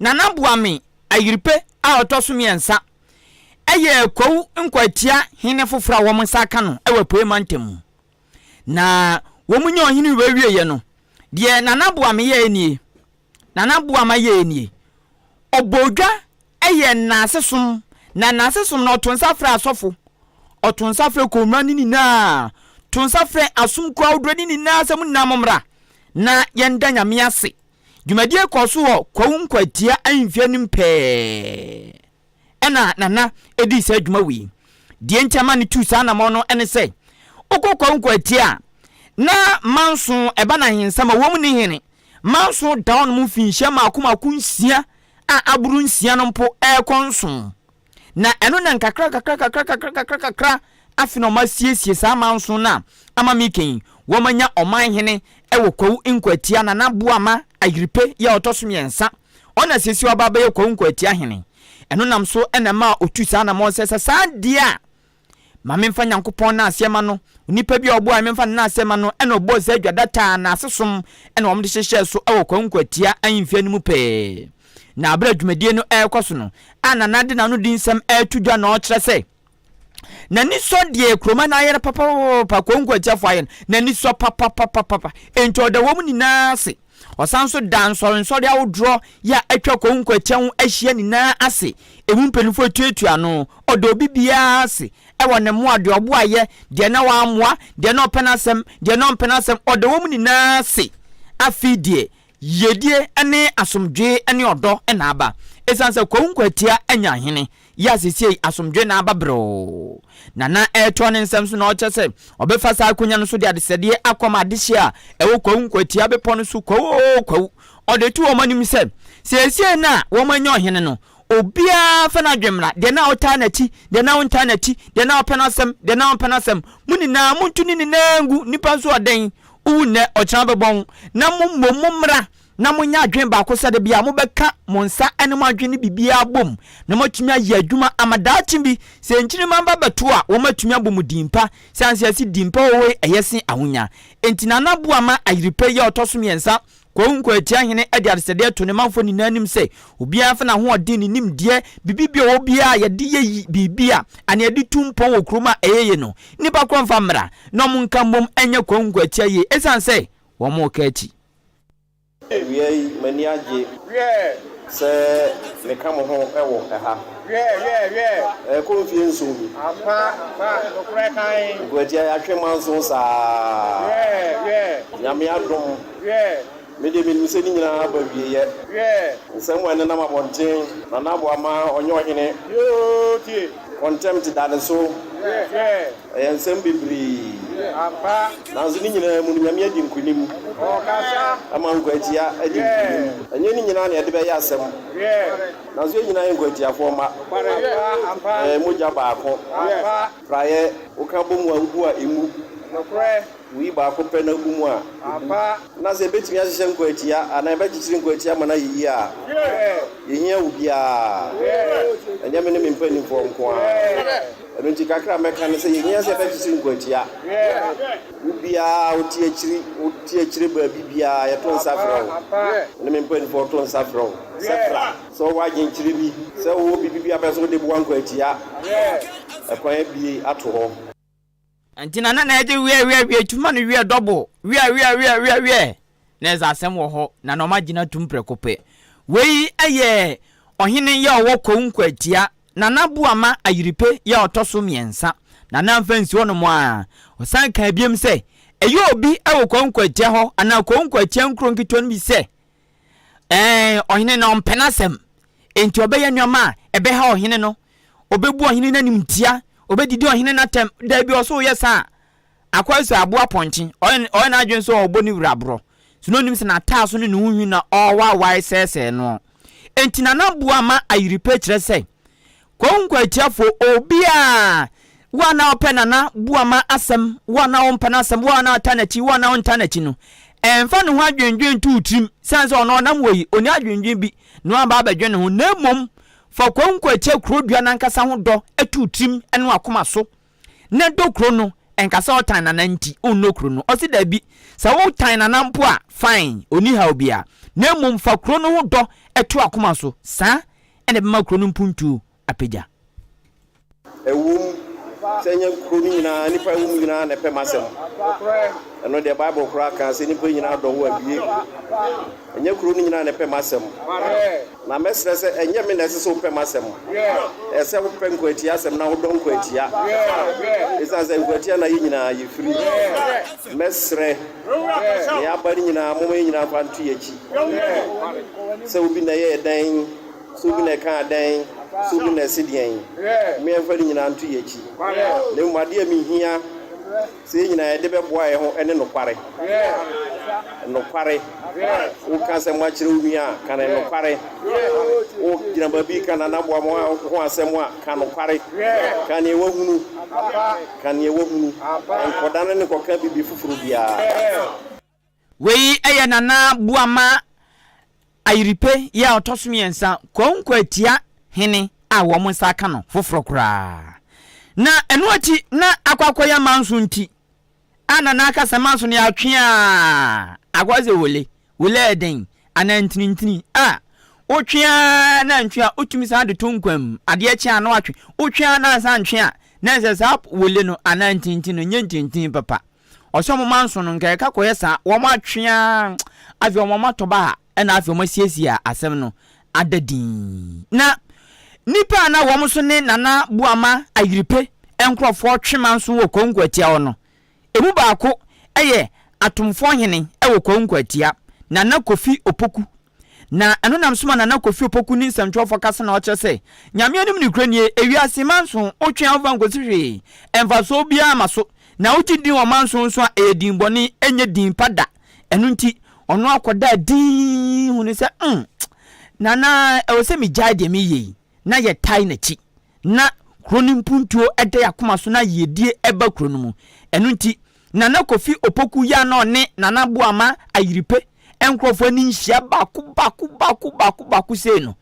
Speaker 1: Nana Boame Ayirpe a ɔtɔ so mmiɛnsa yɛ Kwawu Nkwatia hene foforɔ a wɔn nsa aka no wɔ Apueeɛ Mantam mu. Na wɔn nyɛ ɔhene wɔawieɛ no, deɛ Nana Boame yɛɛ nie, Nana Boama yɛɛ nie, ɔbɔɔ dwa yɛɛ nnase som, na nnase som no ɔto nsa frɛ asɔfo, ɔto nsa frɛ Kɔnmura no nyinaa, to nsa frɛ asomkuo ahodoɔ no nyinaa sɛ mo nyinaa mommra na yɛnda Nyame ase Dwumadie kɔɔ so wɔ Kwawu Nkwatia ahemfie anim pɛɛ ɛna Nana dii saa dwuma wei. Deɛ nti ama no tuu saa anamɔn no ne sɛ, wokɔ Kwawu Nkwatia a, na manso ɛba no ahensɛm a wɔm ne hene. Manso da hɔnom mfinhyia mmaako mmaako nsia a aboro nsia no mpo ɛrekɔ nson Na ɛno na nkakrankakrakakrakakra afe na wɔasiesie saa amanson no a ama meka yi, wɔanya ɔmanhene wɔ Kwawu Nkwatia, Nana Boama Ayirpe yɛ a ɔtɔ so mmiɛnsa, ɔna seesei waba abɛyɛ Kwawu Nkwatia hene. Ɛno nam so na ɛmaa ɔtu saa anamɔn sɛ sɛ saa deɛ a Ma memfa Nyankopɔn no aseɛ ma no. Onipa bi a ɔboaɛ me mfa no no aseɛ ma no ɛna ɔbɔɔ saa dwa data a naase som ɛna wɔn de hyehyɛɛ so ɛwɔ Kwaku Nkwatia ahemfie no mu pɛɛ. Na aberɛ a dwumadie no ɛrekɔ so no a Nana de n'ano di nsɛm ɛreto dwa na ɔrekyerɛ sɛ n'ani sɔ deɛ Kuroma no ayɛ no papapapapa, Kwaku Nkwatia foɔ ayɛ no, n'ani sɔ papapapapa. Enti ɔda wɔn nyinaa ase. Ɔsan nso daa nsɔrensɔre ahodoɔ yi a atwa Kwahu Nkwatia ho ahyia nyinaa ase, emu mpanyinfoɔ etuatua ano, ɔda obi biara ase wɔ ne mmoa, deɛ ɔboa yɛ, deɛ na wammoa, deɛ na ɔpɛ n'asɛm, deɛ na ɔmpɛ n'asɛm, ɔda wɔn nyinaa ase. Afei deɛ yiedie ne asomdwee ne ɔdɔ na aba, esiane sɛ Kwahu Nkwatia anya ahene. yi a sesiei asomdwoe no aba brɛoo na na ɛretɔ ne nsam so na ɔkyerɛ sɛ ɔbɛfa saa akonya no so de adesrɛdeɛ akɔma adehye a ɛwɔ Kwawu Nkwatia Bepɔ no so, Kwawu oo Kwawu. Ɔde too wɔn anim sɛ, seesei no a wɔanya ɔhene no, obiara mfa n'adwene mmra, deɛ na ɔtaa n'akyi, deɛ na ɔntaa n'akyi, deɛ na ɔpɛ n'asɛm, deɛ na ɔmpɛ n'asɛm, mo nyinaa monto ne nyinaa ngu, nnipa nso ɔdɛn, wowu nnɛ, ɔkyena bɛbɔn, na mo mmom mommra na monyɛ adwene baako sɛ da biara mobɛka mo nsa ne mo adwene ne biribiara abom na moatumi ayɛ adwuma ama daakye bi sɛ nkyirimma ba bɛto a wɔatumi abɔ mu din pa siane sɛ ɛse din pa wɔ hɔ yi ɛyɛ se ahonya enti Nana Boa ma Ayirepɛ yi a ɔtɔ so mmiɛnsa Kwawu Nkoatia Hene de adesɛdeɛ too ne manfoɔ nyinaa anim sɛ obiara mfa n'ahoɔden ne nimdeɛ biribi bi a ɔwɔ biara a yɛde yɛ yi biribi a anaa yɛde tu mpɔn wɔ kurom a ɛyɛ yie no nnipa korɔ mfa mmra na wɔnka mmom nyɛ Kwawu Nkoatia yie ɛsiane sɛ wɔka akyi Awia
Speaker 7: yi, m'ani agye. Sɛ meka mo ho wɔ ha. Ɛrekɔ mfie nson ni. Nkwatiae atwe manso saa. Nyame adom. Me deɛ menim sɛ ne nyinaa aba awieɛ. Nsɛm a ɛnenam abɔnten. Nana Aboa ma ɔnyɛ ɔhene. Wɔn ntam te dade so. Ɛyɛ nsɛm bebree. Nanso ne nyinaa mu no, Nyame adi nkonim. Ɛma nkwaatia adi nkonim. Ɛnyɛ ne nyinaa na yɛde bɛyɛ asɛm. Nanso yɛn nyinaa yɛ nkwaatiafoɔ mma. Yɛyɛ mogya baako. Praeɛ, woka bɔ mu a, wobu a, ɛmmu. Wuyi baako pɛ na egu mu a, ebu. Na sɛ yebetumi ahyehyɛ nkwaatia anaa yɛbɛkyekyere nkwaatia ama no ayɛ yiye a, yehia wo biara. Ɛnyɛ me ne me mpanimfoɔ nko ara. Ɛno nti, kakra a mɛka ne sɛ yehia sɛ yɛbɛkyekyere nkwaatia. Wo biara a wote akyiri, wote akyire baabi biara, yɛto nsa frɛ wo. Me ne me mpanimfoɔ to nsa frɛ wo sɛ bra. Sɛ wowɔ adwenkyerɛ bi sɛ wowɔ biribi bi a wopɛ sɛ wode boa nkwaatia a, kwan abue ato hɔ. Ɛnti na
Speaker 1: Nana ɛde wiɛ wiɛ wiɛ tu ma no wiɛ double wiɛ wiɛ wiɛ wiɛ wiɛ na ɛdze asɛm wɔ hɔ na na ɔmo agyina tum prɛko pɛ. Wei ɛyɛ Ɔhene yɛ ɔwɔ Kwawu Nkwatia, Nana Boama Ayirepɛ yɛ a ɔtɔ so mmiɛnsa. Nana mfa nsi hɔ nom aa, ɔsan kaa biom sɛ, Ɛyɛ obi ɛwɔ Kwawu Nkwatia hɔ anaa Kwawu Nkwatia nkuro nketewa no bi sɛ, Ɛɛ, ɔhene no mpɛ n'asɛm, enti ɔbɛyɛ nneɛma a ɛbɛha ɔhene no. Obebu ɔhene no animtia, obedidi ɔhene no atɛm. Dabi, ɔsɛ ɔyɛ saa a, akwanside aboa pɔnkye. Ɔyɛ ɔyɛ n'adwene sɛ ɔbɔ ne wura borɔ. So na onim sɛ n'ataaso ne ne ho nhwi na ɔrewawae sɛesɛe noɔ? Enti Nana Boa ma ayiri pɛ kyerɛ sɛ, Kwawu Nkwatiafo, Obi a wo a na ɔpɛ Nana Boama asɛm, wo a na wompɛ n'asɛm, wo a na ɔta n'akyi, wo a na wonta n'akyi no, ɛmfa ne ho adwendwen nto wo tirim sane sɛ ɔno ɔnam wɔ yi, ɔnni adwendwen bi na woaba abɛdwen ne ho, na mmom fa Kwawu Nkwatia kurodua no ankasa ho dɔ to wo tirim ne w'akoma so na dɔ kuro no. Ɛnka sɛ ɔtan Nana nti wonnɔ kuro no, ɔse dabi. Sɛ wotan Nana mpo a, fine, ɔnni haw biara, na mmom fa kuro no ho dɔ to w'akoma so. Saa na ɛbɛma kuro no mpuntuo apagya.
Speaker 7: Ɛwom sɛ ɛnyɛ kuro no nyinaa nnipa ɛwɔ mu nyinaa na ɛpɛ m'asɛm. Ɛno deɛ Bible koraa kaa sɛ nnipa nyinaa dɔ wo abie. Ɛnyɛ kuro no nyinaa na ɛpɛ m'asɛm. Na mɛsrɛ sɛ ɛnyɛ me na ɛsɛ sɛ wopɛ m'asɛm. Ɛsɛ sɛ wopɛ nkwatia asɛm na wodɔ nkwatia. Ɛsiane sɛ nkwatia na yɛ nyinaa yɛfiri. Mɛsrɛ ne aba no nyinaa, momma yɛ nyinaa nkwa nto yɛn akyi. Hwɛ sɛ obi na ɛyɛɛ dɛn, sɛ obi na ɛkaa dɛn, sɛ obi na ɛse deɛn. Momma yɛmfa ne nyinaa nto yɛn akyi, na mmom adeɛ a ɛho hia sɛ yɛn nyinaa yɛde bɛboa yɛn ho ne nokware. Nokware. Woka asɛm akyerɛ wo nua a, ka no nokware. Wogyina baabi reka n'anaboa mu ho asɛm a, ka nokware. Ka deɛ woahunu. Ka deɛ woahunu. Nkɔdane ne nkɔka biribi foforɔ biara.
Speaker 1: Wei yɛ Nana Boama Ayiripe yɛ a ɔtɔ so mmiɛnsa, Kwawu Nkwaatia hene a wɔn nsa aka no foforɔ koraa. Na ɛno akyi na akɔ akɔyɛ amanso nti a Nana aka sɛ manso no yɛatwe a akɔyɛ sɛ wole. Wole yɛ dɛn anaa ntinintini a wotwe a na ntwe a wotumi san de to nkwa mu. Adeɛ kye a na watwe, wotwe a na ansan ntwe a na ɛsɛ saa wole no anaa ntinintini no nyɛ ntinintini papa. Ɔsɛ ɔmo manso no nka ɛka kɔyɛ saa ɔmo atwe aa afei ɔmo atɔ baha ɛna afei ɔmo asiesie a asɛm no ada dinn na nipa a na wɔn so ne Nana Boama Ayirpe nkorɔfoɔ twe manso wɔ Konko Atia hɔ no emu baako ɛyɛ Atomfoɔ hene ɛwɔ Konko Atia Nana Kofi Opoku Na ɛno nam so ma Nana Kofi Opoku ne nsɛmtwerɛfoɔ ka sɛ na ɔkyerɛ sɛ Nyame anim nokorɛ nie, ewiase manso wotwe ahofa nkɔsi hwee, mfasoɔ biara mma so, na wogye din wɔ manso nso a ɛyɛ din bɔne, ɛnyɛ din pa da. Ɛno nti ɔno akɔdaa dinn hunuu sɛ, mm, Nana ɛwɔ sɛ megyae deɛ meyɛ yi. na yɛtae n'akyi. Ná kuro no mpuntuo da yɛn akoma so na yiedie ba kuro no mu. Ɛno nti, Nana Kofi Opoku yɛ a na ɔne Nana Boama Ayiripe nkurɔfoɔ ani nhyia baako baako baako baako baako sei no.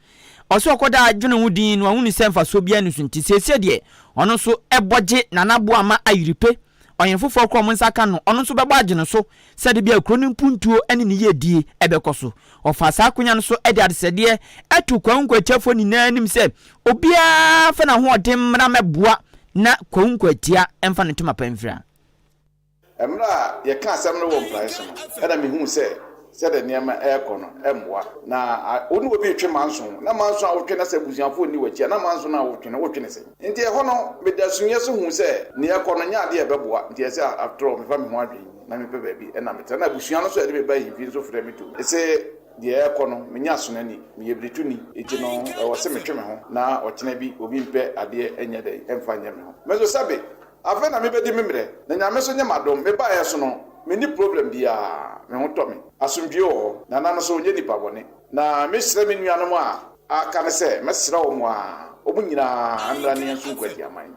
Speaker 1: Ɔsɛ ɔkɔdaa dwene ho dinn na wahunu sɛ mfasoɔ biara nni so nti, seesei deɛ ɔno nso bɔ gye Nana Boama Ayiripe ɔhene foforɔ korɔ a wɔn nsa aka no, ɔno nso bɛbɔ agye no so sɛ da biara kuro no mpuntuo ne ne yiedie bɛkɔ so. Wɔfaa saa akonya no so de adesrɛdeɛ too Kwahu Nkwatiafoɔ nyinaa anim sɛ, Obiara mfa n'ahoɔden mmra mmɛboa na Kwahu Nkwatia mfa ne ntoma pa mfira. Mmerɛ
Speaker 8: a yɛkaa asɛm no wɔ mpraeɛ so no, na mehuu sɛ sɛdeɛ nneɛma rekɔ no mmoa. Na wo ne obi retwe manso, na manso a wotwe no, sɛ abusuafoɔ nni w'akyi a, na manso no a wotwe no, wotwe no sɛn? Nti ɛhɔ no, meda sunyɛ so hu sɛ nea ɛrekɔ no nyɛ ade a ɛbɛboa. Nti ɛsɛ sɛ after all mefa me ho adwene mu na mepɛ baabi na metra. Na abusua no nso a ɛde me ba ahemfie nso frɛ me tom se deɛ ɛrekɔ no menyɛ asonani, meyɛ birituni, enti no ɛwɔ se metwe me ho na ɔkyena bi obi mpɛ adeɛ nyɛ dɛn mfa nyɛ me ho. Me nso sɛbe afei na mebɛdi me mmerɛ. Na Nyame nso nyɛ m'adom, mebaeɛ so no menni problem biara, me ho tɔ me, asomdwoe wɔ hɔ, Nana no nso ɔnyɛ nipa bɔne. Na mesrɛ me nuanom a Aka ne sɛ, Mɛsra wɔn a wɔn nyinaa mmra ne yɛn nso nkɔ adiaman.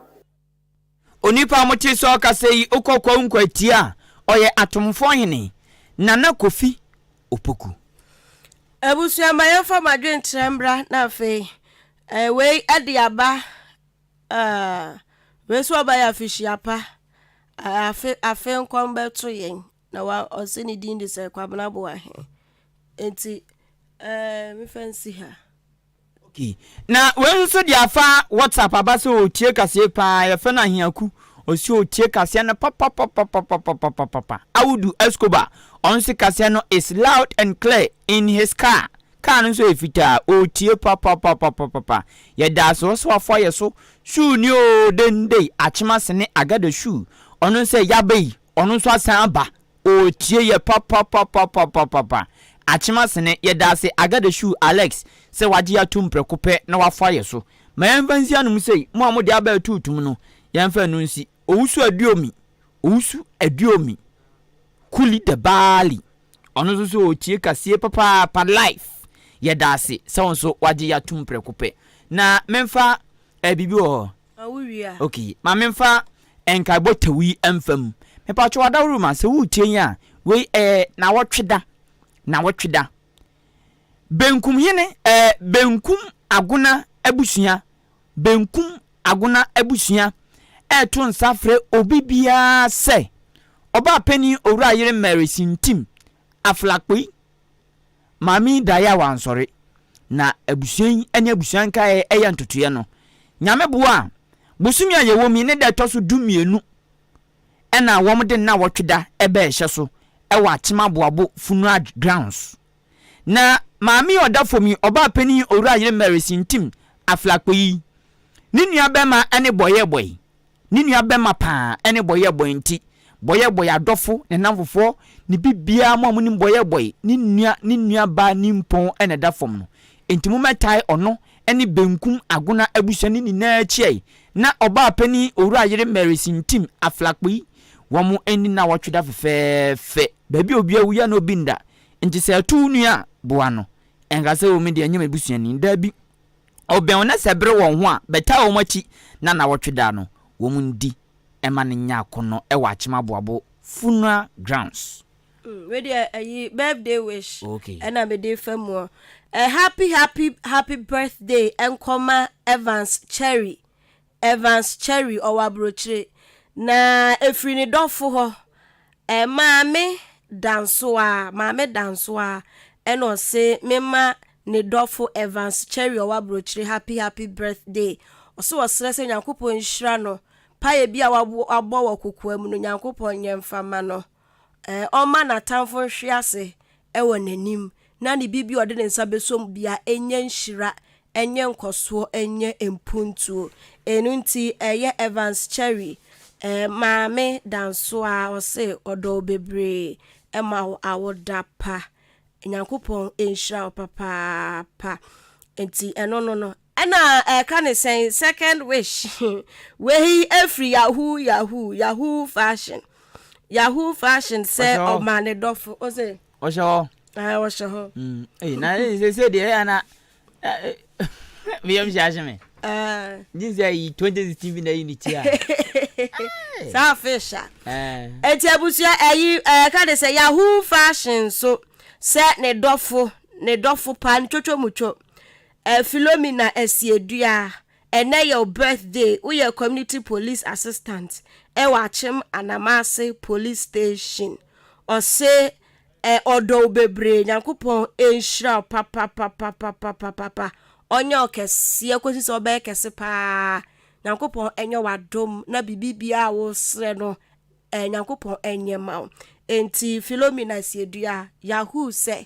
Speaker 1: Onipa a mote sɛ ɔkasa yi, wokɔ Kwawu-Nkwaatia a, ɔyɛ Atomfoɔ hene, Nana Kofi Opoku.
Speaker 3: Abusua ma yɛmfa mo adwenkyerɛ mbra na afei eh wei ɛde aba ah wei nso ɔbɛyɛ afihyia pa ah afe afe nkɔm bɛto yɛn Na wa ɔse ne din de sɛ Kwabena Boahe nti eh me fa nsi ha. Ok
Speaker 1: na wei nso deɛ afa WhatsApp aba sɛ ɔretie kaseɛ paa yɛfrɛ no Ahiaku ɔse ɔretie kaseɛ no papapapapapapapapa Audu Escobar ɔno nso kaseɛ no is loud and clear in his car car no nso yɛ fitaa ɔretie papapapapapapa yɛdaase ɔse wafa yɛ so shoe ni oo dendei Akyema Sene Agada shoe ɔno nso yɛ Yabei Ɔno nso asan aba ɔretie yɛ papapapapapapa. Akyemasene, yɛda ase Agadeshu Alex sɛ wagye yɛ atom prɛko pɛ na wafa yɛ so. Ma yɛmfa nsi anom sei, mo a mode aba reto tum no, yɛmfa ɛno nsi. Owusu Aduomi, Owusu Aduomi, Kuli the Baali. Ɔno nso sɛ ɔretie kaseɛ papaapa live. Yɛda ase sɛ wo nso wagye yɛ atom prɛko pɛ. Na memfa ɛɛ biribi wɔ hɔ, Ma wo wie a. Okay
Speaker 3: ma me nfa
Speaker 1: nkaebɔ tɛw yi nfa mu. Mepakyɛw Adawuruma sɛ woretie yi a, wei ɛyɛ nawɔtwe da, nawɔtwe da. Benkum hene ɛɛ Benkum Agona abusua, Benkum Agona abusua ɛreto nsa afrɛ obi biara sɛ, Ɔbaapanin Owura Yere Mary Sintim Aflakpui, Maame yi daeɛ a wansɔre. Na abusua yi ne abusua nkaeɛ yɛ ntotoeɛ no. Nyame boa a, bosome a yɛwɔ mu yi ne da ɛtɔ so du mmienu ɛna wɔde nnawɔtwe da bɛɛhyɛ so wɔ Akyem Aboabo Funeral Grounds. Na maame yi a ɔda fam yi, ɔbaa panin Owura Ayere Mary Sintim Aflakpo yi, ne nua bɛɛma ne bɔyɛɛbɔe. Ne nua bɛma paa ɛne bɔyɛ bɔy nti bɔyɛ bɔy adɔfo ne namfofoɔ ne bibiaa mo a monim bɔyɛ bɔy ne nua ne nua baa nimpɔn na ɛda fam no nti mo mɛtae ɔno ɛne benkum agona abusua no nyinaa akyi ai na ɔbaa panin owura yere Mary Sintim Aflakpui wɔn nni nawɔtwe da fɛfɛɛfɛ baabi a obi awuiɛ na obi nda nti sɛ ɛto wo nua a boa no ɛnkasa o me deɛ ɛnyɛ m'abusuani daabi. Ɔbɛn wo na sɛ bere wɔn ho a, bɛtaa wɔn akyi na nnawɔtwe da no, wɔn ndi ɛma no nya akɔnnɔ ɛwɔ Akyem Aboabo funeral grounds. Mm wei deɛ
Speaker 3: ayi birthday wish okay. ɛna mede
Speaker 1: fa mu
Speaker 3: ɔ ɛ happy happy happy birthday nkɔma Evans Cherry Evans Cherry, ɔwɔ aburokyire, na ɛfiri ne dɔfo hɔ, Maame Dansoah, Maame Dansoah, ɛna ɔse mema ne dɔfo Evans Cherry ɔwɔ aburokyire happy happy birthday, ɔse ɔsrɛ sɛ Nyankopɔn nhyira no, payɛ bi a wabɔ wɔ kokoa mu no Nyankopɔn nyɛ mfa ma no. ɔmma n'atamfo nhwe ase wɔ n'anim, na ne biribi a ɔde ne nsa bɛsɔ mu biara nyɛ nhyira, nyɛ nkɔsoɔ, nyɛ mpuntuo. Ɛno nti, ɛyɛ Evans Cherry maame Dansoa a ɔse ɔdɔ wo bebree, ɛma wo awoda pa. Nyankopɔn nhyira wo papaapa. Nti ɛno no no, Ɛna ɛka ne sɛn second wish wei ɛfiri yahoo yahoo yahoo fashion yahoo fashion sɛ ɔma ne dɔfo ose ɔhyɛ hɔ ɛɛ
Speaker 1: ɔhyɛ hɔ
Speaker 3: ɛyi na
Speaker 1: ɛsɛ sɛ deɛ ɛyɛ na meyɛ mhyɛ ahye me gye sɛ yi 2016 bi na ɛyi ne ti a
Speaker 3: saa fish a ɛti abusua ɛyi ɛka ne sɛ yahoo fashion so sɛ ne dɔfo ne dɔfo pa ntwotwo mu two Eh Philomena Asieduah ɛnɛ yɛ wo birthday woyɛ community police assistant ɛwɔ Akyem Anamase police station ɔse eh ɔdɔ wo bebree Nyankopɔn nhyira wo papapapapapapapa ɔnyɛ wo kɛseɛ kɔsi sɛ wobɛyɛ kɛse paa Nyankopɔn nyɛ wo adom na biribi biara a woresrɛ no eh Nyankopɔn nyɛ ma wo enti Philomena Asieduah Yahoo sɛ